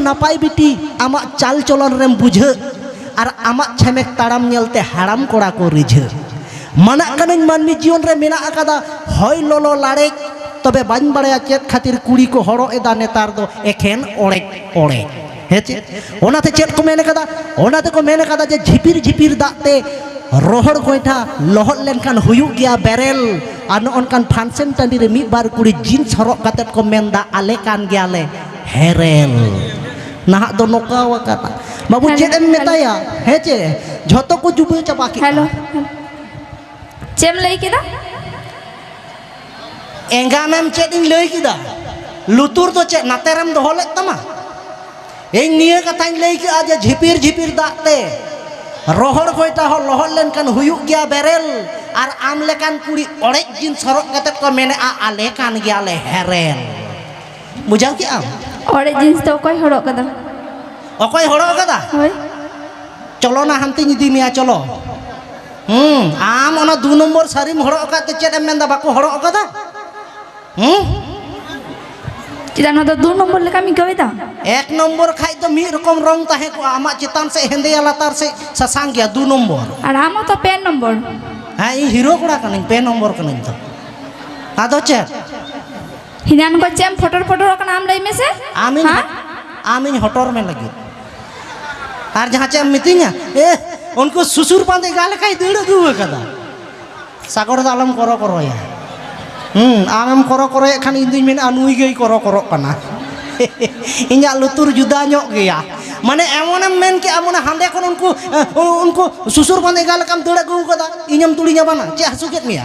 ᱱᱟᱯᱟᱭ ᱵᱤᱴᱤ ᱟᱢᱟᱜ ᱪᱟᱞ ᱪᱚᱞᱚᱱ ᱨᱮᱢ ᱵᱩᱡᱷᱟᱹᱜ ᱟᱨ ᱟᱢᱟᱜ ᱪᱷᱮᱢᱮᱠ ᱛᱟᱲᱟᱢ ᱧᱮᱞᱛᱮ ᱦᱟᱲᱟᱢ ᱠᱚᱲᱟ ᱠᱚ ᱨᱤᱡᱷᱟᱹᱜ ᱢᱟᱱᱟᱜ ᱠᱟᱹᱱᱟᱹᱧ ᱢᱟᱹᱱᱢᱤ ᱡᱤᱭᱚᱱ ᱨᱮ ᱢᱮᱱᱟᱜ ᱟᱠᱟᱫᱟ ᱦᱚᱭ ᱞᱚᱞᱚ ᱞᱟᱲᱮᱡ ᱛᱚᱵᱮ ᱵᱟᱹᱧ ᱵᱟᱲᱟᱭᱟ ᱪᱮᱫ ᱠᱷᱟᱹᱛᱤᱨ ᱠᱩᱲᱤ ᱠᱚ ᱦᱚᱨᱚᱜ ᱮᱫᱟ ᱱᱮᱛᱟᱨ ᱫᱚ ᱮᱠᱷᱮᱱ ᱚᱲᱮᱡ ᱚᱲᱮᱡ ᱦᱮᱸ ᱪᱮᱫ ᱚᱱᱟᱛᱮ ᱪᱮᱫ ᱠᱚ ᱢᱮᱱ ᱠᱟᱫᱟ ᱚᱱᱟ ᱛᱮᱠᱚ ᱢᱮᱱ ᱠᱟᱫᱟ ᱡᱮ ᱡᱷᱤᱯᱤᱨ ᱡᱷᱤᱯᱤᱨ ᱫᱟᱜ ᱛᱮ ᱨᱚᱦᱚᱲ ᱜᱚᱭᱴᱷᱟ ᱞᱚᱦᱚᱫ ᱞᱮᱱᱠᱷᱟᱱ ᱦᱩᱭᱩᱜ ᱜᱮᱭᱟ ᱵᱮᱨᱮᱞ ᱟᱨ ᱱᱚᱜᱼᱚ ᱱᱚᱝᱠᱟᱱ ᱯᱷᱟᱱᱥᱮᱱ ᱴᱟᱺᱰᱤ ᱨᱮ ᱢᱤᱫ ᱵᱟᱨ ᱠᱩᱲᱤ ᱡᱤᱱᱥ ᱦᱚᱨᱚᱜ ᱠᱟᱛᱮᱫ ᱠᱚ ᱢᱮᱱᱫᱟ ᱟᱞᱮ ᱠᱟᱱ ᱜᱮᱭᱟᱞᱮ ᱦᱮᱨᱮᱞ ᱱᱟᱦᱟᱜ ᱫᱚ ᱱᱚᱠᱟᱣ ᱟᱠᱟᱫᱟ ᱵᱟᱹᱵᱩ ᱪᱮᱫ ᱮᱢ ᱢᱮᱛᱟᱭᱟ ᱦᱮᱸ ᱪᱮ ᱡᱷᱚᱛᱚ ᱠᱚ ᱡᱩᱵᱟᱹ ᱪᱟᱵᱟ ᱠᱮᱫᱟ ᱦᱮᱞᱳ ᱪᱮᱫ ᱮᱢ ᱞᱟᱹᱭ ᱠᱮᱫᱟ ᱮᱸᱜᱟᱱᱮᱢ ᱪᱮᱫ ᱤᱧ ᱞᱟᱹᱭ ᱠᱮᱫᱟ ᱞᱩᱛᱩᱨ ᱫᱚ ᱪᱮᱫ ᱱᱟᱛᱮ ᱨᱮᱢ ᱫᱚᱦᱚ ᱞᱮᱫ ᱛᱟᱢᱟ ᱤᱧ ᱱᱤᱭᱟᱹ ᱠᱟᱛᱷᱟᱧ ᱞᱟᱹᱭ ᱠᱮᱫᱼᱟ ᱡᱮ ᱡᱷᱤᱯᱤᱨ ᱡᱷᱤᱯᱤᱨ ᱫᱟᱜ ᱛᱮ ᱨᱚᱦᱚᱲ ᱜᱚᱭᱴᱟ ᱦᱚᱸ ᱞᱚᱦᱚᱫ ᱞᱮᱱᱠᱷᱟᱱ ᱦᱩᱭᱩᱜ ᱜᱮᱭᱟ ᱵᱮᱨᱮᱞ ᱟᱨ ᱟᱢ ᱞᱮᱠᱟᱱ ᱠᱩᱲᱤ ᱚᱲᱮᱡ ᱡᱤᱱᱥ ᱦᱚᱨᱚᱜ ᱠᱟᱛᱮ ᱠᱚ ᱢᱮᱱᱮᱫᱼᱟ ᱟᱞᱮ ᱠᱟᱱ ᱜᱮᱭᱟᱞᱮ ᱦᱮᱨᱮᱞ ᱵᱩᱡᱷᱟᱹᱣ ᱠᱮᱫ ᱟᱢ ᱚᱲᱮᱡ ᱡᱤᱱᱥ ᱫᱚ ᱚᱠᱚᱭ ᱦᱚᱨᱚᱜ ᱠᱟᱫᱟ ᱚᱠᱚᱭ ᱦᱚᱨᱚᱜ ᱠᱟᱫᱟ ᱦᱳᱭ ᱪᱚᱞᱚ ᱱᱟ ᱦᱟᱱᱛᱮᱧ ᱤᱫᱤ ᱢᱮᱭᱟ ᱪᱚᱞᱚ ᱦᱩᱸ ᱟᱢ ᱚᱱᱟ ᱫᱩ ᱱᱚᱢᱵᱚᱨ ᱥᱟᱹᱨᱤᱢ ᱦᱚᱲᱚᱜ ᱟᱠᱟᱫ ᱛᱮ ᱪᱮᱫ ᱮᱢ ᱢᱮᱱᱫᱟ ᱵᱟᱠᱚ ᱦᱚᱲᱚᱜ ᱟᱠᱟᱫᱟ ᱦᱩᱸ ᱪᱮᱫᱟᱜ ᱱᱚᱣᱟ ᱫᱚ ᱫᱩ ᱱᱚᱢᱵᱚᱨ ᱞᱮᱠᱟᱢ ᱟᱹᱭᱠᱟᱹᱣᱮᱫᱟ ᱮᱠ ᱱᱚᱢᱵᱚᱨ ᱠᱷᱟᱡ ᱫᱚ ᱢᱤᱫ ᱨᱚᱠᱚᱢ ᱨᱚᱝ ᱛᱟᱦᱮᱸ ᱠᱚᱜᱼᱟ ᱟᱢᱟᱜ ᱪᱮᱛᱟᱱ ᱥᱮᱫ ᱦᱮᱸᱫᱮᱭᱟ ᱞᱟᱛᱟᱨ ᱥᱮᱫ ᱥᱟᱥᱟᱝ ᱜᱮᱭᱟ ᱫᱩ ᱱᱚᱢᱵᱚᱨ ᱟᱨ ᱟᱢ ᱦᱚᱸᱛᱚ ᱯᱮ ᱱᱚᱢᱵᱚᱨ ᱦᱮᱸ ᱤᱧ ᱦᱤᱨᱳ ᱠᱚᱲᱟ ᱠᱟᱹᱱᱟᱹᱧ ᱯᱮ ᱱᱚᱢᱵᱚᱨ ᱠᱟᱹᱱᱟᱹᱧ ᱛᱚ ᱟᱫᱚ ᱪᱮᱫ ᱦᱤᱱᱟᱱ ᱠᱚ ᱪᱮᱢ ᱯᱷᱚᱴᱚᱨ ᱯᱷᱚᱴᱚᱨ ᱠᱟᱱᱟ ᱟᱢ ᱞᱟᱹᱭ ᱢᱮᱥᱮ ᱟᱢ ᱤᱧ ᱟᱢ ᱤᱧ ᱦᱚᱴᱚᱨ ᱢᱮ ᱞᱟᱹᱜᱤᱫ ᱟᱨ ᱡᱟᱦᱟᱸ ᱪᱮᱫ ᱮᱢ ᱢᱤᱛᱟᱹᱧᱟ ᱮ ᱩᱱᱠᱩ ᱥᱩᱥᱩᱨ ᱵᱟᱸᱫᱮ ᱜᱟ ᱞᱮᱠᱟᱭ ᱫᱟᱹᱲ ᱟᱹᱜᱩ ᱟᱠᱟᱫᱟ ᱥᱟᱜᱚᱲ ᱫᱚ ᱟᱞᱚᱢ ᱠᱚᱨᱚ ᱠᱚᱨᱚᱭᱟ ᱦᱩᱸ ᱟᱢᱮᱢ ᱠᱚᱨᱚ ᱠᱚᱨᱚᱭᱮᱫ ᱠᱷᱟᱱ ᱤᱧ ᱫᱩᱧ ᱢᱮᱱᱟ ᱱᱩᱭ ᱜᱮᱭ ᱠᱚᱨᱚ ᱠᱚᱨᱚᱜ ᱠᱟᱱᱟ ᱤᱧᱟᱹᱜ ᱞᱩᱛᱩᱨ ᱡᱩᱫᱟ ᱧᱚᱜ ᱜᱮᱭᱟ ᱢᱟᱱᱮ ᱮᱢᱚᱱᱮᱢ ᱢᱮᱱ ᱠᱮᱜᱼᱟ ᱢᱟᱱᱮ ᱦᱟᱸᱰᱮ ᱠᱷᱚᱱ ᱩᱱᱠᱩ ᱩᱱᱠᱩ ᱥᱩᱥᱩᱨ ᱵᱟᱸᱫᱮ ᱜᱟ ᱞᱮᱠᱟᱢ ᱫᱟᱹᱲ ᱟᱹᱜᱩ ᱟᱠᱟᱫᱟ ᱤᱧᱮᱢ ᱛᱩᱲᱤᱧᱟ ᱵᱟᱝᱟ ᱪᱮᱫ ᱦᱟᱹᱥᱩ ᱠᱮᱫ ᱢᱮᱭᱟ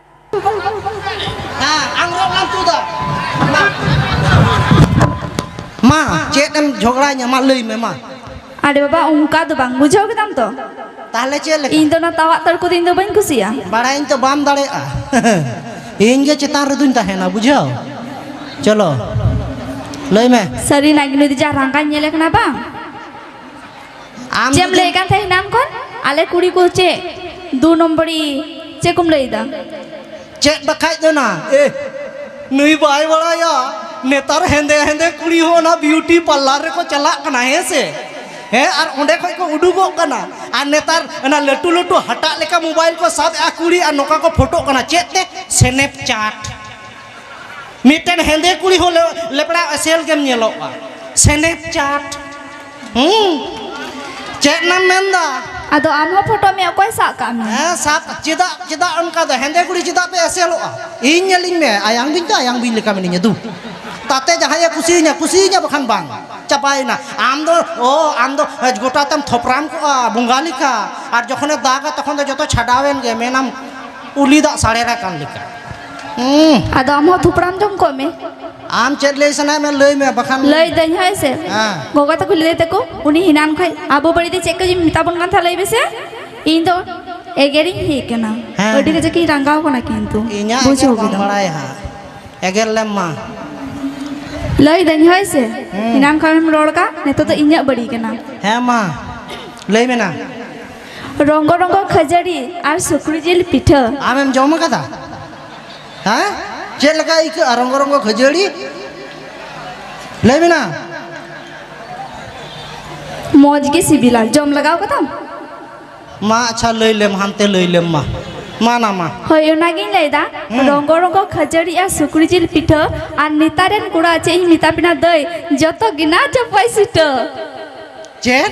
ᱦᱮᱸ ᱟᱝᱨᱚᱵ ᱞᱟᱝ ᱛᱩᱫᱟ ᱢᱟ ᱪᱮᱫ ᱮᱢ ᱡᱷᱚᱜᱽᱲᱟ ᱧᱟᱢᱟ ᱞᱟᱹᱭ ᱢᱮ ᱢᱟ ᱟᱨᱮ ᱵᱟᱵᱟ ᱚᱱᱠᱟ ᱫᱚ ᱵᱟᱝ ᱵᱩᱡᱷᱟᱹᱣ ᱠᱮᱫᱟᱢ ᱛᱚ ᱛᱟᱦᱚᱞᱮ ᱪᱮᱫ ᱞᱮᱠᱟ ᱤᱧ ᱫᱚ ᱚᱱᱟ ᱛᱟᱣᱟᱜ ᱛᱟᱹᱲ ᱠᱚᱫᱚ ᱤᱧ ᱫᱚ ᱵᱟᱹᱧ ᱠᱩᱥᱤᱭᱟᱜᱼᱟ ᱵᱟᱲᱟᱭᱟᱹᱧ ᱛᱚ ᱵᱟᱢ ᱫᱟᱲᱮᱭᱟᱜᱼᱟ ᱤᱧ ᱜᱮ ᱪᱮᱛᱟᱱ ᱨᱮᱫᱚᱧ ᱛᱟᱦᱮᱱᱟ ᱵᱩᱡᱷᱟᱹᱣ ᱪᱚᱞᱚ ᱞᱟᱹᱭ ᱢᱮ ᱥᱟᱹᱨᱤᱱᱟᱜ ᱜᱮ ᱱᱩᱭ ᱫᱚ ᱡᱟ ᱨᱟᱸᱜᱟᱧ ᱧᱮᱞᱮ ᱠᱟᱱᱟ ᱵᱟᱝ ᱟᱢ ᱪᱮᱫ ᱮᱢ ᱞᱟᱹᱭᱮᱫ ᱠᱟᱱ ᱛᱟᱦᱮᱸᱫ ᱮᱱᱟᱱ ᱠᱷᱚᱱ ᱟᱞᱮ ᱠᱩᱲᱤ ᱠᱚ ᱪᱮᱫ ᱫᱩ ᱱᱚᱢᱵᱚᱨᱤ ᱪᱮᱫ ᱠᱚᱢ ᱞᱟᱹᱭᱫᱟ ᱪᱮᱫ ᱵᱟᱠᱷᱟᱡ ᱫᱚ ᱱᱟ ᱮ ᱱᱩᱭ ᱵᱟᱭ ᱵᱟᱲᱟᱭᱟ ᱱᱮᱛᱟᱨ ᱦᱮᱸᱫᱮ ᱦᱮᱸᱫᱮ ᱠᱩᱲᱤ ᱦᱚᱸ ᱚᱱᱟ ᱵᱤᱭᱩᱴᱤ ᱯᱟᱨᱞᱟᱨ ᱨᱮᱠᱚ ᱪᱟᱞᱟᱜ ᱠᱟᱱᱟ ᱦᱮᱸ ᱥᱮ ᱦᱮᱸ ᱟᱨ ᱚᱸᱰᱮ ᱠᱷᱚᱡ ᱠᱚ ᱩᱰᱩᱠᱚᱜ ᱠᱟᱱᱟ ᱟᱨ ᱱᱮᱛᱟᱨ ᱚᱱᱟ ᱞᱟᱹᱴᱩ ᱞᱟᱹᱴᱩ ᱦᱟᱴᱟᱜ ᱞᱮᱠᱟ ᱢᱳᱵᱟᱭᱤᱞ ᱠᱚ ᱥᱟᱵ ᱮᱜᱼᱟ ᱠᱩᱲᱤ ᱟᱨ ᱱᱚᱝᱠᱟ ᱠᱚ ᱯᱷᱳᱴᱳᱜ ᱠᱟᱱᱟ ᱪᱮᱫ ᱛᱮ ᱥᱮᱱᱮᱯ ᱪᱟᱴ ᱢᱤᱫᱴᱮᱱ ᱦᱮᱸᱫᱮ ᱠᱩᱲᱤ ᱦᱚᱸ ᱞᱮᱯᱲᱟ ᱮᱥᱮᱞ ᱜᱮᱢ ᱧᱮᱞᱚᱜᱼᱟ ᱥᱮᱱᱮᱯ ᱪᱟᱴ ᱦᱩᱸ ᱪᱮᱫ ᱱᱟᱢ ᱢᱮᱱᱫᱟ ᱟᱫᱚ ᱟᱢ ᱦᱚᱸ ᱯᱷᱳᱴᱳ ᱢᱮ ᱚᱠᱚᱭ ᱥᱟᱵ ᱠᱟᱜ ᱢᱮ ᱦᱮᱸ ᱥᱟᱵ ᱪᱮᱫᱟᱜ ᱪᱮᱫᱟᱜ ᱚᱱᱠᱟ ᱫᱚ ᱦᱮᱸᱫᱮ ᱠᱩᱲᱤ ᱪᱮᱫᱟᱜ ᱯᱮ ᱮᱥᱮᱞᱚᱜᱼᱟ ᱤᱧ ᱧᱮᱞᱤᱧ ᱢᱮ ᱟᱭᱟᱝ ᱵᱤᱧ ᱫᱚ ᱟᱭᱟᱝ ᱵᱤᱧ ᱞᱮᱠᱟ ᱢᱤᱱᱟᱹᱧᱟ ᱫᱩ ᱛᱟᱛᱮ ᱡᱟᱦᱟᱸᱭᱮ ᱠᱩᱥᱤᱭᱟᱹᱧᱟ ᱠᱩᱥᱤᱭᱟᱹᱧᱟ ᱵᱟᱠᱷᱟᱱ ᱵᱟᱝ ᱪᱟᱵᱟᱭᱮᱱᱟ ᱟᱢ ᱫᱚ ᱚ ᱟᱢ ᱫᱚ ᱜᱚᱴᱟ ᱛᱮᱢ ᱛᱷᱚᱯᱨᱟᱢ ᱠᱚᱜᱼᱟ ᱵᱚᱸᱜᱟ ᱞᱮᱠᱟ ᱟᱨ ᱡᱚᱠᱷᱚᱱᱮ ᱫᱟᱜᱟ ᱛᱚᱠᱷᱚᱱ ᱫᱚ ᱡᱚᱛᱚ ᱪᱷᱟᱰᱟᱣᱮᱱ ᱜᱮ ᱢᱮᱱᱟᱢ ᱩᱞᱤ ᱫᱟᱜ ᱥᱟᱲᱮᱨ ᱟᱠᱟᱱ ᱞᱮᱠᱟ ᱦᱩᱸ ᱟᱫᱚ ᱟᱢ ᱦᱚᱸ ᱛᱷᱩᱯᱲᱟᱢ ᱡᱚᱢ ᱠᱚᱜ ᱢᱮ ᱟᱢ ᱪᱮᱫ ᱞᱟᱹᱭ ᱥᱟᱱᱟᱭᱮᱫ ᱢᱮ ᱞᱟᱹᱭ ᱢᱮ ᱵᱟᱠᱷᱟᱱ ᱞᱟᱹᱭ ᱫᱟᱹᱧ ᱦᱳᱭ ᱥᱮ ᱦᱮᱸ ᱜᱚᱜᱚ ᱛᱟᱠᱚ ᱞᱟᱹᱭ ᱛᱟᱠᱚ ᱩᱱᱤ ᱦᱤᱱᱟᱱ ᱠᱷᱚᱡ ᱟᱵᱚ ᱵᱟᱹᱲᱤᱡ ᱪᱮᱫ ᱠᱚ ᱢᱮᱛᱟ ᱵᱚᱱ ᱠᱟᱱ ᱛᱟᱦᱮᱸ ᱞᱟᱹᱭ ᱢᱮᱥᱮ ᱤᱧ ᱫᱚ ᱮᱜᱮᱨᱤᱧ ᱦᱮᱡ ᱠᱟᱱᱟ ᱦᱮᱸ, ᱟᱹᱰᱤ ᱦᱮᱸ᱾ ᱠᱟᱡᱟᱠ ᱤᱧ ᱨᱟᱸᱜᱟᱣ ᱠᱟᱱᱟ ᱠᱤᱱᱛᱩ ᱤᱧᱟᱹᱜ ᱮᱜᱮᱨ ᱵᱩᱡᱷᱟᱹᱣ ᱵᱟᱢ ᱠᱮᱫᱟᱢ ᱵᱟᱲᱟᱭᱟ ᱦᱟᱸᱜ ᱮᱜᱮᱨ ᱞᱮᱢ ᱢᱟ ᱞᱟᱹᱭ ᱫᱟᱹᱧ ᱦᱳᱭ ᱥᱮ ᱦᱮᱸ᱾ ᱦᱤᱱᱟᱱ ᱠᱷᱚᱱᱮᱢ ᱨᱚᱲ ᱠᱟᱜ ᱱᱤᱛᱚᱜ ᱫᱚ ᱤᱧᱟᱹᱜ ᱵᱟᱹᱲᱤᱡ ᱠᱟᱱᱟ ᱦᱮᱸ ᱢᱟ ᱞᱟᱹᱭ ᱢᱮ ᱱᱟ ᱨᱚᱝᱜᱚ ᱨᱚᱝᱜᱚ ᱠᱷᱟᱹᱡᱟᱹᱲᱤ ᱟᱨ ᱥᱩᱠᱨᱤ ᱡᱤᱞ ᱯᱤᱴᱷᱟᱹ ᱟᱢᱮᱢ ᱡᱚᱢ ᱟᱠᱟᱫᱟ ᱦᱮᱸ ᱪᱮᱫ ᱞᱮᱠᱟ ᱟᱹᱭᱠᱟᱹᱜᱼᱟ ᱨᱚᱝᱜᱚ ᱨᱚᱝᱜᱚ ᱠᱷᱟᱹᱡᱟᱹᱲᱤ ᱞᱟᱹᱭ ᱢᱮᱱᱟ ᱢᱚᱡᱽ ᱜᱮ ᱥᱤᱵᱤᱞᱟ ᱡᱚᱢ ᱞᱟᱜᱟᱣ ᱠᱟᱫᱟᱢ ᱢᱟ ᱟᱪᱪᱷᱟ ᱞᱟᱹᱭ ᱞᱮᱢ ᱦᱟᱱᱛᱮ ᱞᱟᱹᱭ ᱞᱮᱢ ᱢᱟ ᱢᱟ ᱱᱟ ᱢᱟ ᱦᱳᱭ ᱚᱱᱟᱜᱤᱧ ᱞᱟᱹᱭᱫᱟ ᱨᱚᱝᱜᱚ ᱨᱚᱝᱜᱚ ᱠᱷᱟᱹᱡᱟᱹᱲᱤ ᱟᱨ ᱥᱩᱠᱨᱤ ᱡᱤᱞ ᱯᱤᱴᱷᱟᱹ ᱟᱨ ᱱᱮᱛᱟᱨ ᱨᱮᱱ ᱠᱚᱲᱟ ᱪᱮᱫ ᱤᱧ ᱢᱮᱛᱟ ᱯᱮᱱᱟ ᱫᱟᱹᱭ ᱡᱚᱛᱚ ᱜᱮ ᱱᱟ ᱪᱟᱯᱟᱭ ᱥᱤᱴᱟᱹ ᱪᱮᱫ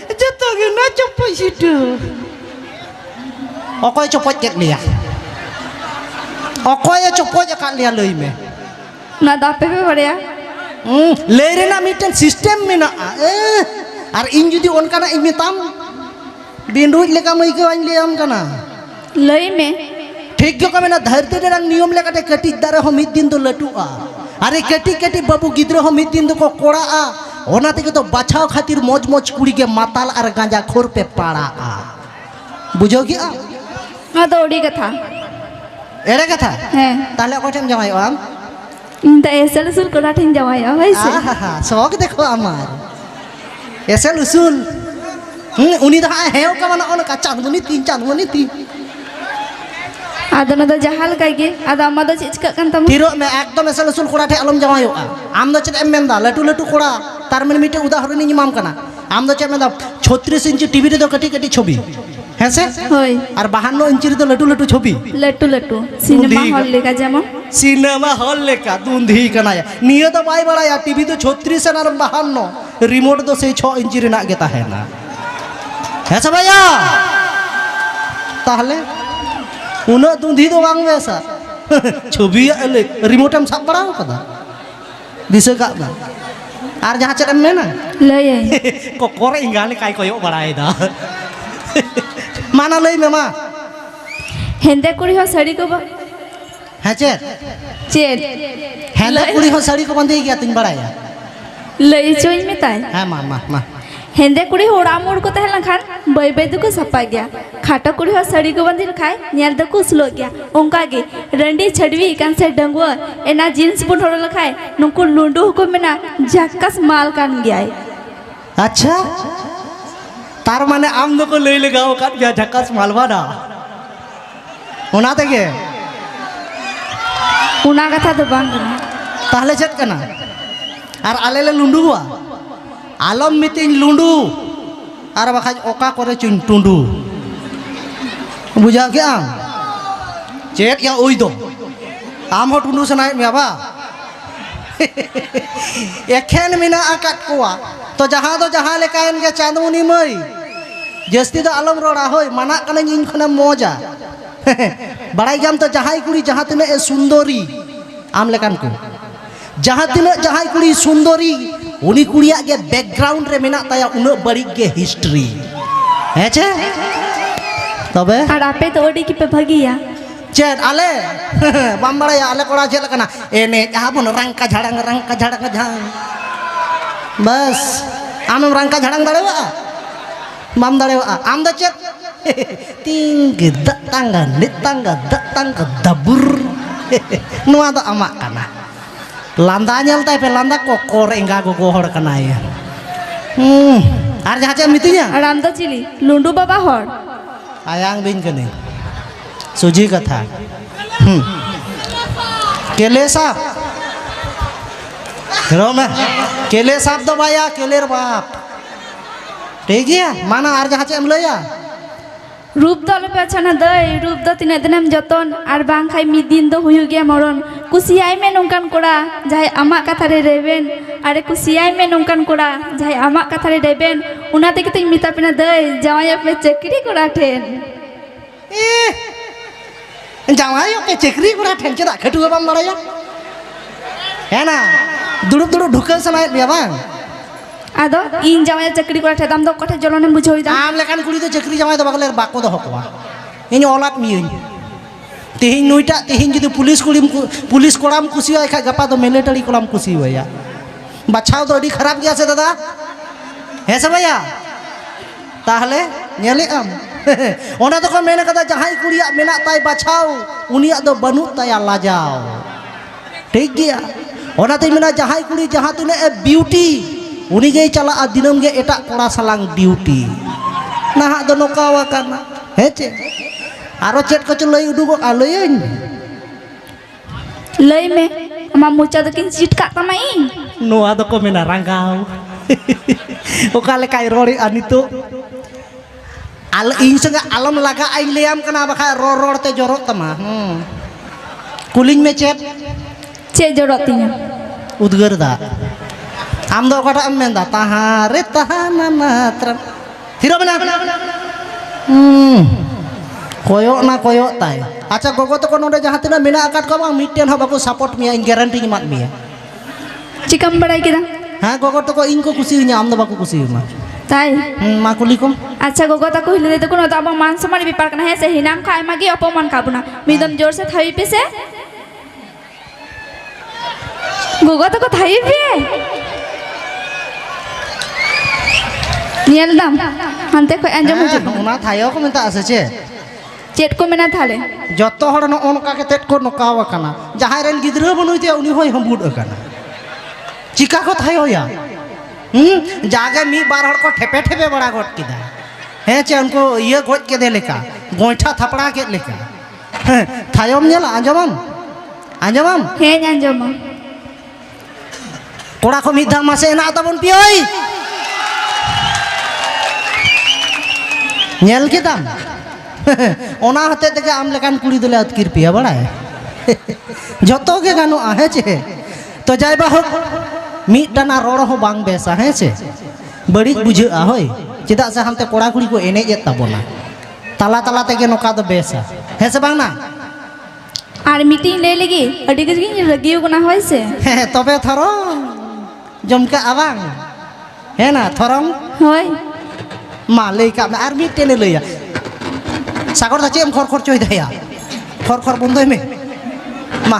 ᱡᱚᱛᱚ ᱜᱮ ᱱᱚᱣᱟ ᱪᱚᱯᱚᱡ ᱥᱤᱴᱟᱹ ᱚᱠᱚᱭ ᱪᱚᱯᱚᱡ ᱠᱮᱫ ᱞᱮᱭᱟ ᱚᱠᱚᱭᱮ ᱪᱚᱯᱚᱡ ᱟᱠᱟᱫ ᱞᱮᱭᱟ ᱞᱟᱹᱭ ᱢᱮ ᱚᱱᱟ ᱫᱚ ᱟᱯᱮ ᱯᱮ ᱵᱟᱲᱟᱭᱟ ᱞᱟᱹᱭ ᱨᱮᱱᱟᱜ ᱢᱤᱫᱴᱮᱱ ᱥᱤᱥᱴᱮᱢ ᱢᱮᱱᱟᱜᱼᱟ ᱟᱨ ᱤᱧ ᱡᱩᱫᱤ ᱚᱱᱠᱟᱱᱟᱜ ᱤᱧ ᱢᱮᱛᱟᱢ ᱵᱤᱱᱰᱩᱡ ᱞᱮᱠᱟᱢ ᱟᱹᱭᱠᱟᱹᱣᱟ ᱤᱧ ᱞᱟᱹᱭᱟᱢ ᱠᱟᱱᱟ ᱞᱟᱹᱭ ᱢᱮ ᱴᱷᱤᱠ ᱜᱮᱠᱚ ᱢᱮᱱᱟ ᱫᱷᱟᱹᱨᱛᱤ ᱨᱮᱱᱟᱜ ᱱᱤᱭᱚᱢ ᱞᱮᱠᱟᱛᱮ ᱠᱟᱹᱴᱤᱡ ᱫᱟᱨᱮ ᱦᱚᱸ ᱢᱤᱫ ᱫᱤᱱ ᱫᱚ ᱞᱟᱹᱴᱩᱜᱼᱟ ᱟᱨ ᱠᱟᱹᱴᱤᱡ ᱠᱟᱹᱴᱤᱡ ᱵᱟᱹᱵᱩ ᱜᱤᱫᱽᱨᱟᱹ ᱦᱚᱸ ᱢᱤᱫ ᱫᱤᱱ ᱫᱚᱠᱚ ᱠᱚᱲᱟᱜᱼᱟ ᱚᱱᱟ ᱛᱮᱜᱮ ᱛᱚ ᱵᱟᱪᱷᱟᱣ ᱠᱷᱟᱹᱛᱤᱨ ᱢᱚᱡᱽ ᱢᱚᱡᱽ ᱠᱩᱲᱤ ᱜᱮ ᱢᱟᱛᱟᱞ ᱟᱨ ᱜᱟᱸᱡᱟ ᱠᱷᱳᱨ ᱯᱮ ᱯᱟᱲᱟᱜᱼᱟ ᱵᱩᱡᱷᱟᱹᱣ ᱠᱮᱜᱼᱟ ᱱᱚᱣᱟ ᱫᱚ ᱟᱹᱰᱤ ᱠᱟᱛᱷᱟ ᱮᱲᱮ ᱠᱟᱛᱷᱟ ᱦᱮᱸ ᱛᱟᱦᱞᱮ ᱚᱠᱚᱭ ᱴᱷᱮᱱ ᱡᱟᱶᱟᱭᱚᱜᱼᱟ ᱟᱢ ᱤᱧ ᱫᱚ ᱮᱥᱮᱞ ᱩᱥᱩᱞ ᱠᱚᱲᱟ ᱴᱷᱮᱱ ᱡᱟᱶᱟᱭᱚᱜᱼᱟ ᱦᱳᱭ ᱥᱮ ᱟᱦᱟ ᱥᱚᱠ ᱫᱮᱠᱷᱚ ᱟᱢᱟᱨ ᱮᱥᱮᱞ ᱩᱥᱩᱞ ᱩᱱᱤ ᱫᱚ ᱦᱟᱸᱜ ᱦᱮᱣ ᱠᱟᱢᱟ ᱱᱚᱜᱼᱚ ᱱᱚᱝᱠᱟ ᱪᱟᱸᱫᱢᱩᱱᱤ ᱛᱤᱧ ᱪᱟᱸᱫᱢᱩᱱᱤ ᱛᱤᱧ ᱟᱫᱚ ᱚᱱᱟ ᱫᱚ ᱡᱟᱦᱟᱸ ᱞᱮᱠᱟ ᱜᱮ ᱟᱫᱚ ᱟᱢᱟᱜ ᱫᱚ ᱪᱮᱫ ᱪᱤᱠᱟᱹᱜ ᱠᱟᱱ ᱛᱟᱢᱟ ᱛᱤᱨᱚᱜ ᱢᱮ ᱮᱠᱫᱚᱢ ᱮᱥᱮᱞ ᱩᱥᱩᱞ ᱠᱚᱲᱟ ᱴᱷᱮᱡ ᱟᱞᱚᱢ ᱡᱟᱶᱟᱭᱚᱜᱼᱟ ᱟᱢ ᱫᱚ ᱪᱮᱫ ᱮᱢ ᱢᱮᱱᱫᱟ ᱞᱟᱹᱴᱩ ᱞᱟᱹᱴᱩ ᱠᱚᱲᱟ ᱛᱟᱨ ᱢᱟᱱᱮ ᱢᱤᱫᱴᱮᱡ ᱩᱫᱟᱦᱚᱨᱚᱱᱤᱧ ᱮᱢᱟᱢ ᱠᱟᱱᱟ ᱟᱢ ᱫᱚ ᱪᱮᱫ ᱮᱢ ᱢᱮᱱᱫᱟ ᱪᱷᱚᱛᱨᱤᱥ ᱤᱧᱪᱤ ᱴᱤᱵᱷᱤ ᱨᱮᱫᱚ ᱠᱟᱹᱴᱤᱡ ᱠᱟᱹᱴᱤᱡ ᱪᱷᱚᱵᱤ ᱦᱮᱸ ᱥᱮ ᱦᱳᱭ ᱟᱨ ᱵᱟᱦᱟᱱᱱᱚ ᱤᱧᱪᱤ ᱨᱮᱫᱚ ᱞᱟᱹᱴᱩ ᱞᱟᱹᱴᱩ ᱪᱷᱚᱵᱤ ᱞᱟᱹᱴᱩ ᱞᱟᱹᱴᱩ ᱥᱤᱱᱮᱢᱟ ᱦᱚᱞ ᱞᱮᱠᱟ ᱡᱮᱢᱚᱱ ᱥᱤᱱᱮᱢᱟ ᱦᱚᱞ ᱞᱮᱠᱟ ᱫᱩᱱᱫᱷᱤ ᱠᱟᱱᱟᱭ ᱱᱤᱭᱟᱹ ᱫᱚ ᱵᱟᱭ ᱵᱟᱲᱟᱭᱟ ᱴᱤᱵᱷᱤ ᱫᱚ ᱪᱷᱚᱛᱨᱤᱥ ᱟᱨ ᱵᱟᱦᱟᱱᱱᱚ ᱨᱤᱢᱳᱴ ᱫᱚ ᱥᱮᱭ ᱪᱷᱚ ᱤᱧᱪᱤ ᱨᱮᱱᱟᱜ ᱜᱮ ᱛᱟᱦᱮᱱᱟ ᱦᱮᱸ ᱥᱮ ᱵᱷᱟᱭᱟ ᱛᱟᱦᱞᱮ ᱩᱱᱟᱹᱜ ᱫᱩᱱᱫᱷᱤ ᱫᱚ ᱵᱟᱝ ᱵᱮᱥᱟ ᱪᱷᱚᱵᱤᱭᱟᱜ ᱨᱤᱢᱳᱴ ᱮᱢ ᱥᱟᱵ ᱵᱟᱲᱟ ᱟᱠᱟᱫᱟ ᱫᱤᱥᱟᱹ ᱠᱟᱜ ᱢᱮ ᱟᱨ ᱡᱟᱦᱟᱸ ᱪᱮᱫ ᱮᱢ ᱢᱮᱱᱟ ᱞᱟᱹᱭᱟᱹᱧ ᱠᱚᱠᱚᱨᱮ ᱮᱸᱜᱟ ᱞᱮᱠᱟᱭ ᱠᱚᱭᱚᱜ ᱵᱟᱲᱟᱭᱮᱫᱟ ᱢᱟᱱᱟ ᱞᱟᱹᱭ ᱢᱮ ᱢᱟ ᱦᱮᱸᱫᱮ ᱠᱩᱲᱤ ᱦᱚᱸ ᱥᱟᱹᱲᱤ ᱠᱚ ᱵᱟ ᱦᱮᱸ ᱪᱮᱫ ᱪᱮᱫ ᱦᱮᱸᱫᱮ ᱠᱩᱲᱤ ᱦᱚᱸ ᱥᱟᱹᱲᱤ ᱠᱚ ᱵᱟᱸᱫᱮᱭ ᱜᱮᱭᱟ ᱛᱤᱧ ᱵᱟᱲᱟᱭᱟ ᱞᱟᱹᱭ ᱦᱚᱪᱚᱧ ᱢᱮᱛᱟᱭ ᱦᱮᱸ ᱢᱟ ᱢᱟ ᱢᱟ ᱦᱮᱸᱫᱮ ᱠᱩᱲᱤ ᱦᱚᱸ ᱚᱲᱟᱜ ᱢᱳᱲ ᱠᱚ ᱛᱟᱦᱮᱸ ᱞᱮᱱᱠᱷᱟᱱ ᱵᱟᱹᱭ ᱵᱟᱹᱭ ᱛᱮᱠᱚ ᱥᱟᱯᱷᱟ ᱜᱮᱭᱟ ᱠᱷᱟᱴᱚ ᱠᱩᱲᱤ ᱦᱚᱸ ᱥᱟᱹᱲᱤ ᱠᱚ ᱵᱟᱸᱫᱮ ᱞᱮᱠᱷᱟᱱ ᱧᱮᱞ ᱛᱮᱠᱚ ᱩᱥᱩᱞᱚᱜ ᱜᱮᱭᱟ ᱚᱱᱠᱟ ᱜᱮ ᱨᱟᱺᱰᱤ ᱪᱷᱟᱹᱰᱣᱤ ᱟᱠᱟᱱ ᱥᱮ ᱰᱟᱺᱜᱩᱣᱟᱹ ᱮᱱᱟ ᱡᱤᱱᱥ ᱵᱚᱱ ᱦᱚᱨᱚᱜ ᱞᱮᱠᱷᱟᱱ ᱱᱩᱠᱩ ᱞᱩᱸᱰᱩ ᱦᱚᱸᱠᱚ ᱢᱮᱱᱟ ᱡᱟᱠᱠᱟᱥ ᱢᱟᱞ ᱠᱟᱱ ᱜᱮᱭᱟᱭ ᱟᱪᱪᱷᱟ ᱛᱟᱨ ᱢᱟᱱᱮ ᱟᱢ ᱫᱚᱠᱚ ᱞᱟᱹᱭ ᱞᱮᱜᱟᱣ ᱟᱠᱟᱫ ᱜᱮᱭᱟ ᱡᱟᱠᱠᱟᱥ ᱢᱟᱞ ᱵᱟᱰᱟ ᱚᱱᱟ ᱛᱮᱜᱮ ᱚᱱᱟ ᱠᱟᱛᱷᱟ ᱫᱚ ᱵᱟᱝ ᱠᱟᱱᱟ ᱛᱟᱦᱚᱞᱮ ᱪᱮᱫ ᱠᱟᱱᱟ ᱟᱨ ᱟᱞᱮ ᱞᱮ ᱞᱩᱸᱰᱩᱣᱟ ᱟᱞᱚᱢ ᱢᱤᱛᱟᱹᱧ ᱞᱩᱸᱰᱩ ᱟᱨ ᱵᱟᱠᱷᱟᱡ ᱚᱠᱟ ᱠᱚᱨᱮ ᱪᱚᱧ ᱴᱩᱸᱰᱩ ᱵᱩᱡᱷᱟᱹᱣ ᱠᱮᱜ ᱟᱢ ᱪᱮᱫ ᱭᱟ ᱩᱭ ᱫᱚ ᱟᱢ ᱦᱚᱸ ᱴᱩᱸᱰᱩ ᱥᱟᱱᱟᱭᱮᱫ ᱢᱮᱭᱟ ᱵᱟ ᱮᱠᱷᱮᱱ ᱢᱮᱱᱟᱜ ᱟᱠᱟᱫ ᱠᱚᱣᱟ ᱛᱚ ᱡᱟᱦᱟᱸ ᱫᱚ ᱡᱟᱦᱟᱸ ᱞᱮᱠᱟᱭᱮᱱ ᱜᱮ ᱪᱟᱸᱫᱽᱢᱩᱱᱤ ᱢᱟᱹᱭ ᱡᱟᱹᱥᱛᱤ ᱫᱚ ᱟᱞᱚᱢ ᱨᱚᱲᱟ ᱦᱳᱭ ᱢᱟᱱᱟᱜ ᱠᱟᱹᱱᱟᱹᱧ ᱤᱧ ᱠᱷᱚᱱᱮᱢ ᱢᱚᱡᱟ ᱵᱟᱲᱟᱭ ᱜᱮᱭᱟᱢ ᱛᱚ ᱡᱟᱦᱟᱸᱭ ᱠᱩᱲᱤ ᱡᱟᱦᱟᱸ ᱛᱤᱱᱟᱹᱜ ᱮ ᱥᱩᱱᱫᱚᱨᱤ ᱟᱢ ᱞᱮᱠᱟᱱ ᱠᱚ ᱡᱟᱦᱟᱸ ᱛᱤᱱᱟᱹᱜ ᱡᱟᱦᱟᱸᱭ ᱠᱩᱲᱤ ᱥᱩᱱᱫᱚᱨᱤ ᱩᱱᱤ ᱠᱩᱲᱤᱭᱟᱜ ᱜᱮ ᱵᱮᱠᱜᱨᱟᱣᱩᱱᱰ ᱨᱮ ᱢᱮᱱᱟᱜ ᱛᱟᱭᱟ ᱩᱱᱟᱹᱜ ᱵᱟᱹᱲᱤᱡ ᱜᱮ ᱦᱤᱥᱴᱨᱤ ᱦᱮᱸ ᱪᱮ ᱛᱚᱵᱮ ᱟᱨ ᱟᱯᱮ ᱫᱚ ᱟᱹᱰᱤ ᱜᱮᱯᱮ ᱵᱷᱟᱹᱜᱤᱭᱟ ᱪᱮᱫ ᱟᱞᱮ ᱵᱟᱢ ᱵᱟᱲᱟᱭᱟ ᱟᱞᱮ ᱠᱚᱲᱟ ᱪᱮᱫ ᱞᱮᱠᱟᱱᱟ ᱮᱱᱮᱡ ᱟᱵᱚᱱ ᱨᱟᱝᱠᱟ ᱡᱷᱟᱲᱟᱝ ᱨᱟᱝᱠᱟ ᱡᱷᱟᱲᱟᱝ ᱡᱷᱟᱝ ᱵᱟᱥ ᱟᱢᱮᱢ ᱨᱟᱝᱠᱟ ᱡᱷᱟᱲᱟᱝ ᱫᱟᱲᱮᱭᱟᱜᱼᱟ ᱵᱟᱢ ᱫᱟᱲᱮᱭᱟᱜᱼᱟ ᱟᱢ ᱫᱚ ᱪᱮᱫ ᱛᱤᱝ ᱫᱟᱜ ᱛᱟᱝᱜᱟ ᱱᱤᱛ ᱛᱟᱝᱜᱟ ᱫᱟᱜ ᱛᱟᱝᱜᱟ ᱫᱟᱵᱩᱨ ᱱᱚᱣᱟ ᱫᱚ ᱟᱢᱟᱜ ᱠᱟᱱᱟ ᱞᱟᱸᱫᱟ ᱧᱮᱞ ᱛᱟᱭ ᱯᱮ ᱞᱟᱸᱫᱟ ᱠᱚ ᱠᱚᱨ ᱮᱸᱜᱟ ᱜᱚᱜᱚ ᱦᱚᱲ ᱠᱟᱱᱟᱭ ᱟᱨ ᱡᱟᱦᱟᱸ ᱪᱮᱫ ᱢᱤᱛᱟᱹᱧᱟ ᱟᱲᱟᱝ ᱫᱚ ᱪᱤᱞᱤ ᱞᱩᱸᱰᱩ ᱵᱟᱵᱟ ᱦᱚᱲ ᱟᱭᱟᱝ ᱵᱤᱧ ᱠᱟᱹᱱᱟᱹᱧ ᱥᱩᱡᱤ ᱠᱟᱛᱷᱟ ᱠᱮᱞᱮ ᱥᱟᱯ ᱨᱚᱢᱮ ᱠᱮᱞᱮ ᱥᱟᱯ ᱫᱚ ᱵᱟᱭᱟ ᱠᱮᱞᱮᱨ ᱵᱟᱯ ᱴᱷᱤᱠ ᱜᱮᱭᱟ ᱢᱟᱱᱟ ᱟᱨ ᱡᱟᱦᱟᱸ ᱪᱮᱫ ᱮᱢ ᱞᱟᱹᱭᱟ ᱨᱩᱯ ᱫᱚ ᱟᱞᱚᱯᱮ ᱟᱪᱷᱟᱱᱟ ᱫᱟᱹᱭ ᱨᱩᱯ ᱫᱚ ᱛᱤᱱᱟᱹᱜ ᱫᱤᱱᱮᱢ ᱡᱚᱛᱚᱱ ᱟᱨ ᱵᱟᱝ ᱠᱷᱟᱡ ᱢᱤᱫ ᱫᱤᱱ ᱫᱚ ᱦᱩᱭᱩᱜ ᱜᱮᱭᱟ ᱢᱚᱨᱚᱱ ᱠᱩᱥᱤᱭᱟᱭ ᱢᱮ ᱱᱚᱝᱠᱟᱱ ᱠᱚᱲᱟ ᱡᱟᱦᱟᱸᱭ ᱟᱢᱟᱜ ᱠᱟᱛᱷᱟ ᱨᱮ ᱨᱮᱵᱮᱱ ᱟᱨ ᱠᱩᱥᱤᱭᱟᱭ ᱢᱮ ᱱᱚᱝᱠᱟᱱ ᱠᱚᱲᱟ ᱡᱟᱦᱟᱸᱭ ᱟᱢᱟᱜ ᱠᱟᱛᱷᱟ ᱨᱮ ᱨᱮᱵᱮᱱ ᱚᱱᱟ ᱛᱮᱜᱮ ᱛᱚᱧ ᱢᱮᱛᱟ ᱯᱮ ᱠᱟᱱᱟ ᱫᱟᱹᱭ ᱡᱟᱶᱟᱭᱚᱜ ᱯᱮ ᱪᱟᱹᱠᱨᱤ ᱠᱚᱲᱟ ᱴᱷᱮᱱ ᱡᱟᱶᱟᱭᱚᱜ ᱯᱮ ᱪᱟᱹᱠᱨᱤ ᱠᱚᱲᱟ ᱴᱷᱮᱱ ᱪᱮᱫᱟᱜ ᱠᱷᱟᱹᱴᱩᱣᱟᱹ ᱵᱟᱢ ᱵᱟᱲᱟᱭᱟ ᱦᱮᱱᱟ ᱫᱩᱲᱩᱵ ᱫᱩᱲᱩᱵ ᱰᱷᱩᱠᱟᱹ ᱥᱟᱱᱟᱭᱮᱫ ᱢᱮᱭᱟ ᱵᱟᱝ ᱟᱫᱚ ᱤᱧ ᱡᱟᱶᱟᱭ ᱪᱟᱹᱠᱨᱤ ᱠᱚᱲᱟ ᱴᱷᱮᱱ ᱟᱢ ᱫᱚ ᱚᱠᱟ ᱴᱷᱮᱱ ᱡᱚᱞᱚᱱᱮᱢ ᱵᱩᱡᱷᱟᱹᱣ ᱮᱫᱟ ᱟᱢ ᱞᱮᱠᱟᱱ ᱠᱩᱲᱤ ᱫᱚ ᱪᱟᱹᱠᱨᱤ ᱡᱟᱶᱟᱭ ᱫᱚ ᱵᱟᱠᱚ ᱵᱟᱠᱚ ᱫᱚᱦᱚ ᱠᱚᱣᱟ ᱤᱧ ᱚᱞᱟᱫ ᱢᱤᱭᱟᱹᱧ ᱛᱮᱦᱮᱧ ᱱᱩᱭᱴᱟᱜ ᱛᱮᱦᱮᱧ ᱡᱩᱫᱤ ᱯᱩᱞᱤᱥ ᱠᱩᱲᱤᱢ ᱯᱩᱞᱤᱥ ᱠᱚᱲᱟᱢ ᱠᱩᱥᱤᱭᱟᱭ ᱠᱷᱟᱡ ᱜᱟᱯᱟ ᱫᱚ ᱢᱤᱞᱤᱴᱟᱨᱤ ᱠᱚᱲᱟᱢ ᱠᱩᱥᱤᱭᱟᱭᱟ ᱵᱟᱪᱷᱟᱣ ᱫᱚ ᱟᱹᱰᱤ ᱠᱷᱟᱨᱟᱯ ᱜᱮᱭᱟ ᱥᱮ ᱫᱟᱫᱟ ᱦᱮᱸ ᱥᱮ ᱵᱷᱟᱭᱟ ᱛᱟᱦᱚᱞᱮ ᱧᱮᱞᱮᱫ ᱟᱢ ᱚᱱᱟ ᱫᱚᱠᱚ ᱢᱮᱱ ᱠᱟᱫᱟ ᱡᱟᱦᱟᱸᱭ ᱠᱩᱲᱤᱭᱟᱜ ᱢᱮᱱᱟᱜ ᱛᱟᱭ ᱵᱟᱪᱷᱟᱣ ᱩᱱᱤᱭᱟᱜ ᱫᱚ ᱵᱟᱹᱱᱩᱜ ᱛᱟᱭᱟ ᱞᱟᱡᱟᱣ ᱴᱷᱤᱠ ᱜᱮᱭᱟ ᱚᱱᱟᱛᱮᱧ ᱢᱮᱱᱟ ᱡᱟᱦᱟᱸᱭ ᱠᱩᱲᱤ ᱡᱟᱦᱟᱸ ᱛᱤᱱᱟᱹᱜ ᱮ ᱵᱤᱭᱩᱴᱤ ᱩᱱᱤᱜᱮᱭ ᱪᱟᱞᱟᱜᱼᱟ ᱫᱤᱱᱟᱹᱢ ᱜᱮ ᱮᱴᱟᱜ ᱠᱚᱲᱟ ᱥᱟᱞᱟᱝ ᱰᱤᱭᱩᱴᱤ ᱱᱟᱦᱟᱜ ᱫᱚ ᱱᱚᱝᱠᱟ ᱟᱠᱟᱱᱟ ᱦᱮᱸ ᱪᱮ ᱟᱨᱚ ᱪᱮᱫ ᱠᱚᱪᱚ ᱞᱟᱹᱭ ᱩᱰᱩᱠᱚᱜᱼᱟ ᱞᱟᱹᱭᱟᱹᱧ ᱞᱟᱹᱭ ᱢᱮ ᱟᱢᱟᱜ ᱢᱚᱪᱟ ᱫᱚ ᱠᱤᱱ ᱪᱤᱴ ᱠᱟᱜ ᱛᱟᱢᱟ ᱤᱧ ᱱᱚᱣᱟ ᱫᱚ ᱠᱚ ᱢᱮᱱᱟ ᱨᱟᱸᱜᱟᱣ ᱚᱠᱟ ᱞᱮᱠᱟᱭ ᱨᱚᱲᱮᱜᱼᱟ ᱱᱤᱛᱚᱜ ᱟᱞ ᱤᱧ ᱥᱚᱸᱜᱮ ᱟᱞᱚᱢ ᱞᱟᱜᱟᱜᱼᱟ ᱤᱧ ᱞᱟᱹᱭᱟᱢ ᱠᱟᱱᱟ ᱵᱟᱠᱷᱟᱡ ᱨᱚᱲ ᱨᱚᱲ ᱛᱮ ᱡᱚᱨᱚᱜ ᱛᱟᱢᱟ ᱦᱩᱸ ᱠᱩᱞᱤᱧ ᱢᱮ ᱪᱮᱫ ᱪᱮᱫ ᱡᱚᱨᱚᱜ ᱛᱤᱧᱟ ᱩᱫᱽᱜᱟᱹᱨ ᱫᱟᱜ ᱟᱢ ᱫᱚ ᱚᱠᱟᱴᱟᱜ ᱮᱢ ᱢᱮᱱᱫᱟ ᱛᱟᱦᱟᱸ ᱨᱮ ᱛᱟᱦᱟᱸ ᱱᱟᱱᱟ ᱛᱨᱟᱢ ᱛᱷᱤᱨᱚᱜ ᱢᱮ ᱠᱚᱭᱚᱜ ᱱᱟ ᱠᱚᱭᱚᱜ ᱛᱟᱭ ᱟᱪᱪᱷᱟ ᱜᱚᱜᱚ ᱛᱟᱠᱚ ᱱᱚᱰᱮ ᱡᱟᱦᱟᱸ ᱛᱤᱱᱟᱹᱜ ᱢᱮᱱᱟᱜ ᱟᱠᱟᱫ ᱠᱚᱣᱟ ᱵᱟᱝ ᱢᱤᱫᱴᱮᱱ ᱦᱚᱸ ᱵᱟᱠᱚ ᱥᱟᱯᱳᱨᱴ ᱢᱮᱭᱟ ᱤᱧ ᱜᱮᱨᱮᱱᱴᱤᱧ ᱮᱢᱟᱫ ᱢᱮᱭᱟ ᱪᱤᱠᱟᱢ ᱵᱟᱲᱟᱭ ᱠᱮᱫᱟ ᱦᱮᱸ ᱜᱚᱜᱚ ᱛᱟᱠᱚ ᱤᱧ ᱠᱚ ᱠᱩᱥᱤᱭᱟᱹᱧᱟ ᱟᱢ ᱫᱚ ᱵᱟᱠᱚ ᱠᱩᱥᱤᱭᱟᱢᱟ ᱛᱟᱭ ᱢᱟ ᱠᱩᱞᱤ ᱠᱚᱢ ᱟᱪᱪᱷᱟ ᱜᱚᱜᱚ ᱛᱟᱠᱚ ᱦᱤᱞᱤ ᱛᱟᱠᱚ ᱱᱚᱣᱟ ᱫᱚ ᱟᱵᱚ ᱢᱟᱱ ᱥᱚᱢᱟᱱ ᱵᱮᱯᱟᱨ ᱠᱟᱱᱟ ᱦᱮᱸ ᱥᱮ ᱦᱤᱱᱟᱢ ᱠᱷᱟᱱ ᱟᱭᱢᱟ ᱜᱮ ᱚᱯᱚᱢᱟᱱ ᱠᱟᱵᱚᱱᱟ ᱢᱤᱫ ᱫᱚᱢ ᱡᱳᱨ ᱥᱮ ᱛᱷᱟᱹᱭ ᱯᱮᱥᱮ ᱜᱚᱜᱚ ᱛᱟᱠᱚ ᱛᱷᱟᱭᱤ ᱯᱮ ᱧᱮᱞ ᱫᱟᱢ ᱦᱟᱱᱛᱮ ᱠᱷᱚᱡ ᱟᱸᱡᱚᱢ ᱦᱮᱸ, ᱦᱤᱡᱩᱜ ᱚᱱᱟ ᱛᱷᱟᱭᱚ ᱠᱚ ᱢᱮᱛᱟᱜᱼᱟ ᱥᱮ ᱪᱮᱫ ᱪᱮᱫ ᱠᱚ ᱢᱮᱱᱟ ᱛᱟᱦᱞᱮ ᱡᱚᱛᱚ ᱦᱚᱲ ᱱᱚᱜᱼᱚ ᱱᱚᱝᱠᱟ ᱠᱟᱛᱮᱫ ᱠᱚ ᱱᱚᱠᱟᱣ ᱟᱠᱟᱱᱟ ᱡᱟᱦᱟᱸᱭ ᱨᱮᱱ ᱜᱤᱫᱽᱨᱟᱹ ᱵᱟᱹᱱᱩᱭ ᱛᱟᱭᱟ ᱩᱱᱤ ᱦᱚᱸᱭ ᱦᱟᱹᱵᱩᱫ ᱟᱠᱟᱱᱟ ᱪᱤᱠᱟ ᱠᱚ ᱛᱷᱟᱭᱚᱭᱟ ᱦᱩᱸ ᱡᱟᱜᱮ ᱢᱤᱫ ᱵᱟᱨ ᱦᱚᱲ ᱠᱚ ᱴᱷᱮᱯᱮ ᱴᱷᱮᱯᱮ ᱵᱟᱲᱟ ᱜᱚᱫ ᱠᱮᱫᱟ ᱦᱮᱸ ᱪᱮ ᱩᱱᱠᱩ ᱤᱭᱟᱹ ᱜᱚᱡ ᱠᱮᱫᱮ ᱞᱮᱠᱟ ᱜᱚᱸᱭᱴᱷᱟ ᱛᱷᱟᱯᱲᱟ ᱠᱮᱫ ᱞᱮᱠᱟ ᱦᱮᱸ ᱛᱟᱭᱚᱢ ᱧᱮᱞᱟ ᱟᱸᱡᱚᱢᱟᱢ ᱟᱸᱡᱚᱢᱟᱢ ᱦᱮᱸᱧ ᱟᱸᱡᱚᱢᱟ ᱠᱚᱲᱟ ᱠᱚ ᱢᱤᱫ ᱫᱷᱟᱣ ᱢᱟᱥᱮ ᱦᱮᱱᱟᱜ ᱛᱟᱵᱚᱱ ᱯᱤᱭᱳᱭ ᱧᱮᱞ ᱠᱮᱫᱟᱢ ᱚᱱᱟ ᱦᱚᱛᱮ ᱛᱮᱜᱮ ᱟᱢ ᱞᱮᱠᱟᱱ ᱠᱩᱲᱤ ᱫᱚᱞᱮ ᱟᱹᱛᱠᱤᱨ ᱯᱮᱭᱟ ᱵᱟᱲᱟᱭ ᱡᱚᱛᱚ ᱜᱮ ᱜᱟᱱᱚᱜᱼᱟ ᱦᱮᱸ ᱪᱮ ᱛᱚ ᱡᱟᱭ ᱵᱟ ᱦᱳᱠ ᱢᱤᱫᱴᱟᱱᱟ ᱨᱚᱲ ᱦᱚᱸ ᱵᱟᱝ ᱵᱮᱥᱟ ᱦᱮᱸ ᱪᱮ ᱵᱟᱹᱲᱤᱡ ᱵᱩᱡᱷᱟᱹᱜᱼᱟ ᱦᱳᱭ ᱪᱮᱫᱟᱜ ᱥᱮ ᱦᱟᱱᱛᱮ ᱠᱚᱲᱟ ᱠᱩᱲᱤ ᱠᱚ ᱮᱱᱮᱡᱮᱫ ᱛᱟᱵᱚᱱᱟ ᱛᱟᱞᱟ ᱛᱟᱞᱟ ᱛᱮᱜᱮ ᱱᱚᱝᱠᱟ ᱫᱚ ᱵᱮᱥᱟ ᱦᱮᱸ ᱥᱮ ᱵᱟᱝ ᱱᱟ ᱟᱨ ᱢᱤᱫᱴᱤᱡ ᱞᱟᱹᱭ ᱞᱮᱜᱮ ᱟᱹᱰᱤ ᱠᱤᱪᱷᱩ ᱜᱤᱧ ᱨᱟᱹᱜᱤᱣ ᱠᱟᱱᱟ ᱦᱳᱭ ᱥᱮ ᱦᱮᱸ ᱛᱚᱵᱮ ᱛᱷᱚᱨᱚᱝ ᱡᱚᱢ ᱠᱟᱜᱼᱟ ᱵᱟᱝ ᱦᱮᱸ ᱱᱟ ᱛᱷᱚᱨᱚᱝ ᱦᱳᱭ ᱢᱟ ᱞᱟᱹᱭ ᱠᱟᱜ ᱢᱮ ᱟᱨ ᱢᱤᱫᱴᱮᱱ ᱮ ᱞᱟᱹᱭᱟ ᱥᱟᱜᱚᱨ ᱫᱟ ᱪᱮᱫ ᱮᱢ ᱠᱷᱚᱨ ᱠᱷᱚᱨ ᱪᱚᱭ ᱫᱟᱭᱟ ᱠᱷᱚᱨ ᱠᱷᱚᱨ ᱵᱚᱱᱫᱚᱭ ᱢᱮ ᱢᱟ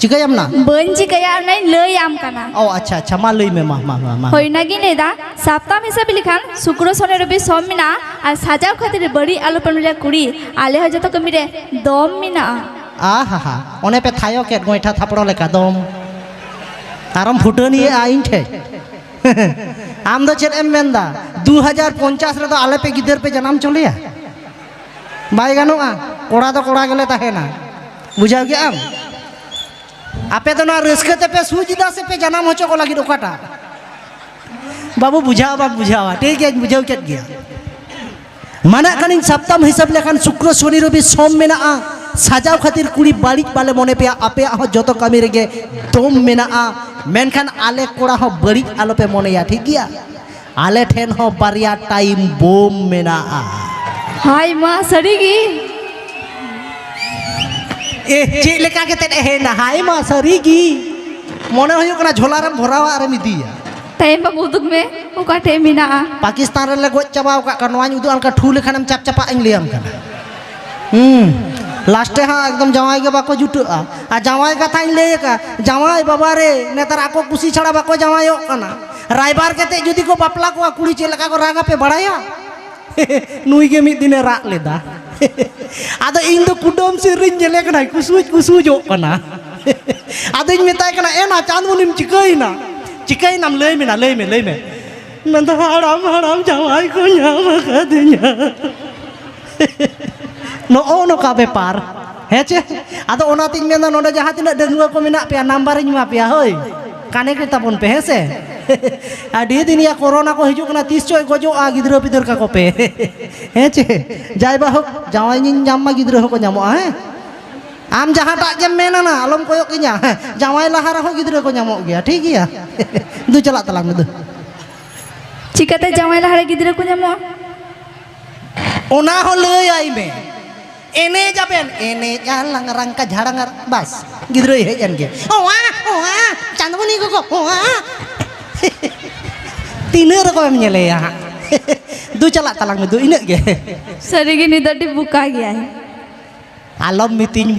ᱪᱤᱠᱟᱹᱭᱟᱢ ᱱᱟ ᱵᱟᱹᱧ ᱪᱤᱠᱟᱹᱭᱟ ᱚᱱᱟᱧ ᱞᱟᱹᱭᱟᱢ ᱠᱟᱱᱟ ᱚ ᱟᱪᱪᱷᱟ ᱟᱪᱪᱷᱟ ᱢᱟ ᱞᱟᱹᱭ ᱢᱮ ᱢᱟ ᱢᱟ ᱢᱟ ᱢᱟ ᱦᱳᱭ ᱚᱱᱟᱜᱤᱧ ᱞᱟᱹᱭᱫᱟ ᱥᱟᱯᱛᱟᱢ ᱦᱤᱥᱟᱹᱵ ᱞᱮᱠᱷᱟᱱ ᱥᱩᱠᱨᱚ ᱥᱚᱱᱮ ᱨᱚᱵᱤ ᱥᱚᱢ ᱢᱮᱱᱟᱜᱼᱟ ᱟᱨ ᱥᱟᱡᱟᱣ ᱠᱷᱟᱹᱛᱤᱨ ᱵᱟᱹᱲᱤᱡ ᱟᱞᱚ ᱯᱮ ᱢᱮᱱᱟ ᱠᱩᱲᱤ ᱟᱞᱮ ᱦᱚᱸ ᱡᱚᱛᱚ ᱠᱟᱹᱢᱤ ᱨᱮ ᱫᱚᱢ ᱢᱮᱱᱟᱜᱼᱟ ᱟᱦᱟ ᱦᱟ ᱚᱱᱮ ᱯᱮ ᱛᱷᱟᱭᱚ ᱠᱮᱫ ᱜᱚᱭᱴᱷᱟ ᱛᱷᱟᱯᱲᱚ ᱞᱮᱠᱟ ᱫᱚᱢ ᱟᱨᱚᱢ ᱯᱷᱩᱴᱟᱹᱱᱤᱭᱮᱜᱼᱟ ᱤᱧ ᱴᱷᱮᱡ ᱟᱢ ᱫᱚ ᱪᱮᱫ ᱮᱢ ᱢᱮᱱᱫᱟ ᱫᱩ ᱦᱟᱡᱟᱨ ᱯᱚᱧᱪᱟᱥ ᱨᱮᱫᱚ ᱟᱞᱮ ᱯᱮ ᱜᱤᱫᱟᱹᱨ ᱯᱮ ᱡᱟᱱᱟᱢ ᱪᱚᱞᱮᱭᱟ ᱵᱟᱭ ᱜᱟᱱᱚᱜᱼᱟ ᱠᱚᱲᱟ ᱫᱚ ᱠᱚᱲᱟ ᱜᱮᱞᱮ ᱛᱟᱦᱮᱱᱟ ᱵᱩᱡᱷᱟᱹᱣ ᱠᱮᱜ ᱟᱢ ᱟᱯᱮ ᱫᱚ ᱱᱚᱣᱟ ᱨᱟᱹᱥᱠᱟᱹ ᱛᱮᱯᱮ ᱥᱩᱡᱽ ᱮᱫᱟ ᱥᱮ ᱯᱮ ᱡᱟᱱᱟᱢ ᱦᱚᱪᱚ ᱠᱚ ᱞᱟᱹᱜᱤᱫ ᱚᱠᱟᱴᱟᱜ ᱵᱟᱹᱵᱩ ᱵᱩᱡᱷᱟᱹᱣ ᱵᱟᱢ ᱵᱩᱡᱷᱟᱹᱣᱟ ᱴᱷᱤᱠ ᱜᱮᱭᱟᱧ ᱵᱩᱡᱷᱟᱹᱣ ᱠᱮᱫ ᱜᱮᱭᱟ ᱢᱟᱱᱟᱜ ᱠᱟᱹᱱᱟᱹᱧ ᱥᱟᱯᱛᱟᱢ ᱦᱤᱥᱟᱹᱵ ᱞᱮᱠᱷᱟᱱ ᱥᱩᱠᱨᱚ ᱥᱚᱱᱤ ᱨᱚᱵᱤ ᱥᱚᱢ ᱢᱮᱱᱟᱜᱼᱟ ᱥᱟᱡᱟᱣ ᱠᱷᱟᱹᱛᱤᱨ ᱠᱩᱲᱤ ᱵᱟᱹᱲᱤᱡ ᱵᱟᱞᱮ ᱢᱚᱱᱮ ᱯᱮᱭᱟ ᱟᱯᱮᱭᱟᱜ ᱦᱚᱸ ᱡᱚᱛᱚ ᱠᱟᱹᱢᱤ ᱨᱮᱜᱮ ᱫᱚᱢ ᱢᱮᱱᱟᱜᱼᱟ ᱢᱮᱱᱠᱷᱟᱱ ᱟᱞᱮ ᱠᱚᱲᱟ ᱦᱚᱸ ᱵᱟᱹᱲᱤᱡ ᱟᱞᱚᱯᱮ ᱢᱚᱱᱮᱭᱟ ᱴᱷᱤᱠ ᱜᱮᱭᱟ ᱟᱞᱮ ᱴᱷᱮᱱ ᱦᱚᱸ ᱵᱟᱨᱭᱟ ᱴᱟᱭᱤᱢ ᱵᱳᱢ ᱢᱮᱱᱟᱜᱼᱟ ᱦᱟᱭ ᱢᱟ ᱥᱟᱹᱨᱤ ᱜᱮ ᱮ ᱪᱮᱫ ᱞᱮᱠᱟ ᱠᱟᱛᱮᱫ ᱮᱦᱮᱱᱟ ᱦᱟᱭ ᱢᱟ ᱥᱟᱹᱨᱤ ᱜᱮ ᱢᱚᱱᱮ ᱦᱩᱭᱩᱜ ᱠᱟᱱᱟ ᱡᱷᱚᱞᱟ ᱨᱮᱢ ᱵᱷᱚᱨᱟᱣᱟ ᱟᱨᱮᱢ ᱤᱫᱤᱭᱟ ᱴᱟᱭᱤᱢ ᱵᱟᱢ ᱩᱫᱩᱜ ᱢᱮ ᱚᱠᱟ ᱴᱷᱮᱡ ᱢᱮᱱᱟᱜᱼᱟ ᱯᱟᱠᱤᱥᱛᱟᱱ ᱨᱮᱞᱮ ᱜᱚᱡ ᱪᱟᱵᱟᱣ ᱟᱠᱟᱫ ᱠᱚᱣᱟ ᱱᱚᱣᱟᱧ ᱩᱫᱩᱜ ᱟᱢ ᱠᱟᱱᱟ ᱴᱷᱩ ᱞᱮᱠᱷᱟᱱᱮᱢ ᱪᱟᱯ ᱪᱟᱯᱟᱜ ᱤᱧ ᱞᱟᱹᱭᱟᱢ ᱠᱟᱱᱟ ᱦᱩᱸ ᱞᱟᱥᱴᱮ ᱦᱟᱸᱜ ᱮᱠᱫᱚᱢ ᱡᱟᱶᱟᱭ ᱜᱮ ᱵᱟᱠᱚ ᱡᱩᱴᱟᱹᱜᱼᱟ ᱟᱨ ᱡᱟᱶᱟᱭ ᱠᱟᱛᱷᱟᱧ ᱞᱟᱹᱭ ᱟᱠᱟᱫ ᱡᱟᱶᱟᱭ ᱵᱟᱵᱟ ᱨᱮ ᱱᱮᱛᱟᱨ ᱟᱠᱚ ᱠᱩᱥᱤ ᱪᱷᱟᱲᱟ ᱵᱟᱠᱚ ᱡᱟᱶᱟᱭᱚᱜ ᱠᱟᱱᱟ ᱨᱟᱭᱵᱟᱨ ᱠᱟᱛᱮ ᱡᱩᱫᱤ ᱠᱚ ᱵᱟᱯᱞᱟ ᱠᱚᱣᱟ ᱠᱩᱲᱤ ᱪᱮᱫ ᱞᱮᱠᱟ ᱠᱚ ᱨᱟᱜᱟ ᱯᱮ ᱵᱟᱲᱟᱭᱟ ᱱᱩᱭ ᱜᱮ ᱢᱤᱫ ᱫᱤᱱᱮ ᱨᱟᱜ ᱞᱮᱫᱟ ᱟᱫᱚ ᱤᱧ ᱫᱚ ᱠᱩᱰᱟᱹᱢ ᱥᱮᱫ ᱨᱤᱧ ᱧᱮᱞᱮ ᱠᱟᱱᱟ ᱠᱩᱥᱩᱡ ᱠᱩᱥᱩᱡᱚᱜ ᱠᱟᱱᱟ ᱟᱫᱚᱧ ᱢᱮᱛᱟᱭ ᱠᱟᱱᱟ ᱮᱱᱟ ᱪᱟᱸᱫᱽᱢᱩᱱᱤᱢ ᱪᱤᱠᱟᱹᱭᱮᱱᱟ ᱪᱤᱠᱟᱹᱭᱮᱱᱟᱢ ᱞᱟᱹᱭ ᱢᱮᱱᱟ ᱞᱟᱹᱭ ᱢᱮ ᱞᱟᱹᱭ ᱢᱮ ᱢᱮᱱᱫᱟ ᱦᱟᱲᱟᱢ ᱦᱟᱲᱟᱢ ᱡᱟᱶᱟᱭ ᱠᱚ ᱧᱟᱢ ᱟᱠᱟᱫᱤᱧᱟ ᱱᱚᱜᱼᱚ ᱱᱚᱝᱠᱟ ᱵᱮᱯᱟᱨ ᱦᱮᱸ ᱪᱮ ᱟᱫᱚ ᱚᱱᱟᱛᱤᱧ ᱢᱮᱱᱫᱟ ᱱᱚᱰᱮ ᱡᱟᱦᱟᱸ ᱛᱤᱱᱟᱹᱜ ᱰᱟᱺᱜᱩᱣᱟᱹ ᱠᱚ ᱢᱮᱱᱟᱜ ᱯᱮᱭᱟ ᱱᱟᱢᱵᱟᱨᱤᱧ ᱮᱢᱟ ᱯᱮᱭᱟ ᱦᱳᱭ ᱠᱟᱱᱮᱠᱴ ᱛᱟᱵᱚᱱ ᱯᱮ ᱦᱮᱸ ᱥᱮ ᱟᱹᱰᱤ ᱫᱤᱱ ᱭᱟ ᱠᱚᱨᱳᱱᱟ ᱠᱚ ᱦᱤᱡᱩᱜ ᱠᱟᱱᱟ ᱛᱤᱥ ᱪᱚᱭ ᱜᱚᱡᱚᱜᱼᱟ ᱜᱤᱫᱽᱨᱟᱹ ᱯᱤᱫᱟᱹᱨ ᱠᱟᱠᱚ ᱯᱮ ᱦᱮᱸ ᱪᱮ ᱡᱟᱭ ᱵᱟ ᱦᱳᱠ ᱡᱟᱶᱟᱭᱤᱧ ᱧᱟᱢ ᱢᱟ ᱜᱤᱫᱽᱨᱟᱹ ᱦᱚᱸᱠᱚ ᱧᱟᱢᱚᱜᱼᱟ ᱦᱮᱸ ᱟᱢ ᱡᱟᱦᱟᱸᱴᱟᱜ ᱜᱮᱢ ᱢᱮᱱᱟ ᱱᱟ ᱟᱞᱚᱢ ᱠᱚᱭᱚᱜ ᱠᱤᱧᱟ ᱡᱟᱶᱟᱭ ᱞᱟᱦᱟ ᱨᱮᱦᱚᱸ ᱜᱤᱫᱽᱨᱟᱹ ᱠᱚ ᱧᱟᱢᱚᱜ ᱜᱮᱭᱟ ᱴᱷᱤᱠ ᱜᱮᱭᱟ ᱫᱩ ᱪᱟᱞᱟᱜ ᱛᱟᱞᱟᱝ ᱢᱮ ᱫᱩ ᱪᱤᱠᱟᱹᱛᱮ ᱡᱟᱶᱟᱭ ᱞᱟᱦᱟᱨᱮ ᱜᱤᱫᱽᱨᱟᱹ ᱠᱚ ᱧᱟᱢᱚᱜᱼᱟ ᱚᱱᱟ ᱦᱚᱸ ᱞᱟᱹᱭ ᱟᱭ ᱢᱮ ᱮᱱᱮᱡ ᱟᱵᱮᱱ ᱮᱱᱮᱡ ᱟᱨ ᱞᱟᱝᱨᱟᱝ ᱠᱟ ᱡᱷᱟᱲᱟᱝ ᱟᱨ ᱵᱟᱥ ᱜᱤᱫᱽᱨᱟᱹᱭ ᱦᱮᱡ ᱮᱱ ᱜᱮ ᱚᱣᱟ ᱚᱣᱟ ᱪᱟᱸᱫᱽᱢᱚᱱᱤ ᱜᱚᱜᱚ ᱚᱣᱟ ᱛᱤᱱᱟᱹᱜ ᱨᱚᱠᱚᱢᱮᱢ ᱧᱮᱞᱮᱭᱟ ᱦᱟᱸᱜ ᱫᱩ ᱪᱟᱞᱟᱜ ᱛᱟᱞᱟᱝ ᱢᱮ ᱫᱩ ᱤᱱᱟᱹᱜ ᱜᱮ ᱥᱟᱹᱨᱤᱜᱮ ᱱᱤᱛ ᱟᱹᱰᱤ ᱵᱩᱠᱟ ᱜᱮᱭᱟᱭ ᱟᱞᱚᱢ ᱢᱤᱛᱤᱧ